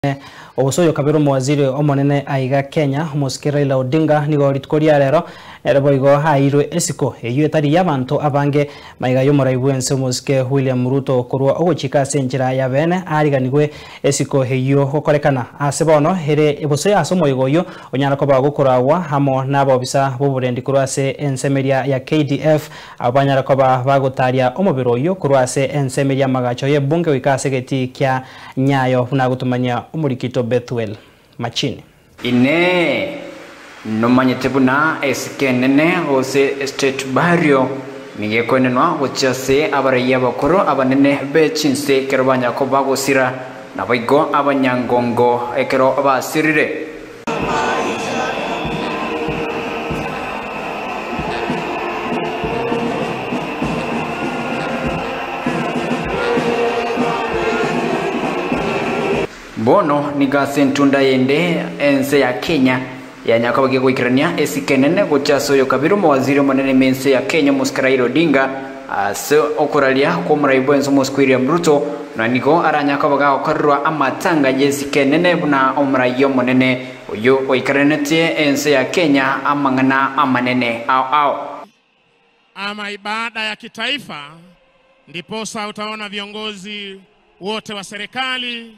Omonene, Gose oyokabera omowaziri omonene aiga Kenya, omosike Raila Odinga, nigo rituko ria rero nere boigo aeirwe esiko eyio etari y'abanto abange maiga y'omorai bw'ense omosike William Ruto korwa ogochika ase enchera yabeene aariganigwe esiko eyio gokorekana ase bono ere gose ase omoigo oyio onyara koba gokoragwa amo nabobisa b'oborendi korwa ase ensemeria ya KDF abo banyara koba bagotaria omobere oyio korwa ase ensemeria y'amagacho y'ebunge goika ase egetii kia Nyayo buna gotomanyia omorikito Bethuel. Machine. Inee! Nomanyete buna esike enene gose estate bario nigo ekoenenwa gochia ase abaraiyo abakoro abanene be chinse ekero banya koba gosira, naboigo abanyangongo ekero basirire? Bono nigo ase entunda yende ense ya Kenya yanya kobagia goikerania esike enene gocha ase oyokabire omowaziri omonene me ense ya Kenya omosi Raila Odinga, Ase okoraria kw'omorai bw'ense omosike William Ruto nanigo aranyare koba gagokorerwa amatanga y'esike enene buna omorai omonene oyio oikaranete ense ya Kenya amang'ana amanene ao ao. Ama ibada ya kitaifa ndiposa utaona viongozi wote wa serikali.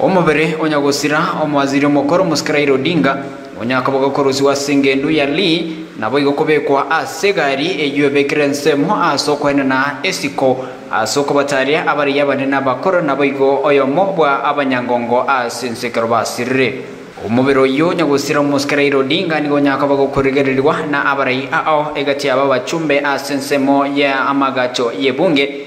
Omobere onya gosira Omowaziri omokoro Mosika Raila Odinga nonya akoboga korusiwa ase engendu ya Lee naboigo kobekwa ase egari eyio ebekire ensemo ase okoenena esiko ase okobataria abarigia abanene abakoro naboigo oyomo bwa abanyangongo ase ense ekero basirire. Omobere oyio onya gosira Omosika Raila Odinga nigo onya akoboga okorigererirwa na abarai ao egati yabo abachumbe ase ensemo ya amagacho ye bunge,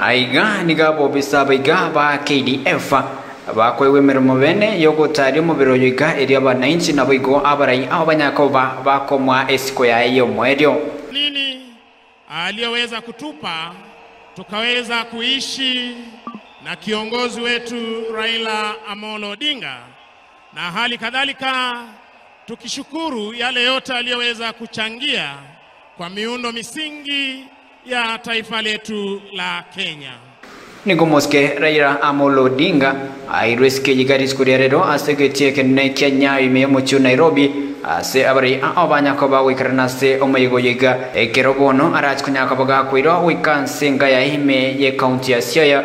Aiga nigo abobisa abaiga ba KDF bakoegwa emeremo bene y'ogotaaria omobere oyo iga erio abanainchi naboigo abarai ao banyakoba bakomoa esiko yaye y'omoerio. Nini aliyoweza kutupa tukaweza kuishi na kiongozi wetu Raila Amolo Odinga? Na hali kadhalika tukishukuru yale yote aliyoweza kuchangia kwa miundo misingi ya taifa letu la Kenya. Nigo Mosike Raila Amolo Odinga aeirwe esike eye Gardens koria rero ase egati ekenene kia Nyayo ime y'omochie o Nairobi ase abaraia ao banya koba goikarana ase omoyega oyo iga. Ekero bono arache konyara koba gakoirwa goika nse enga yaye ime y'ecounty ya Siaya,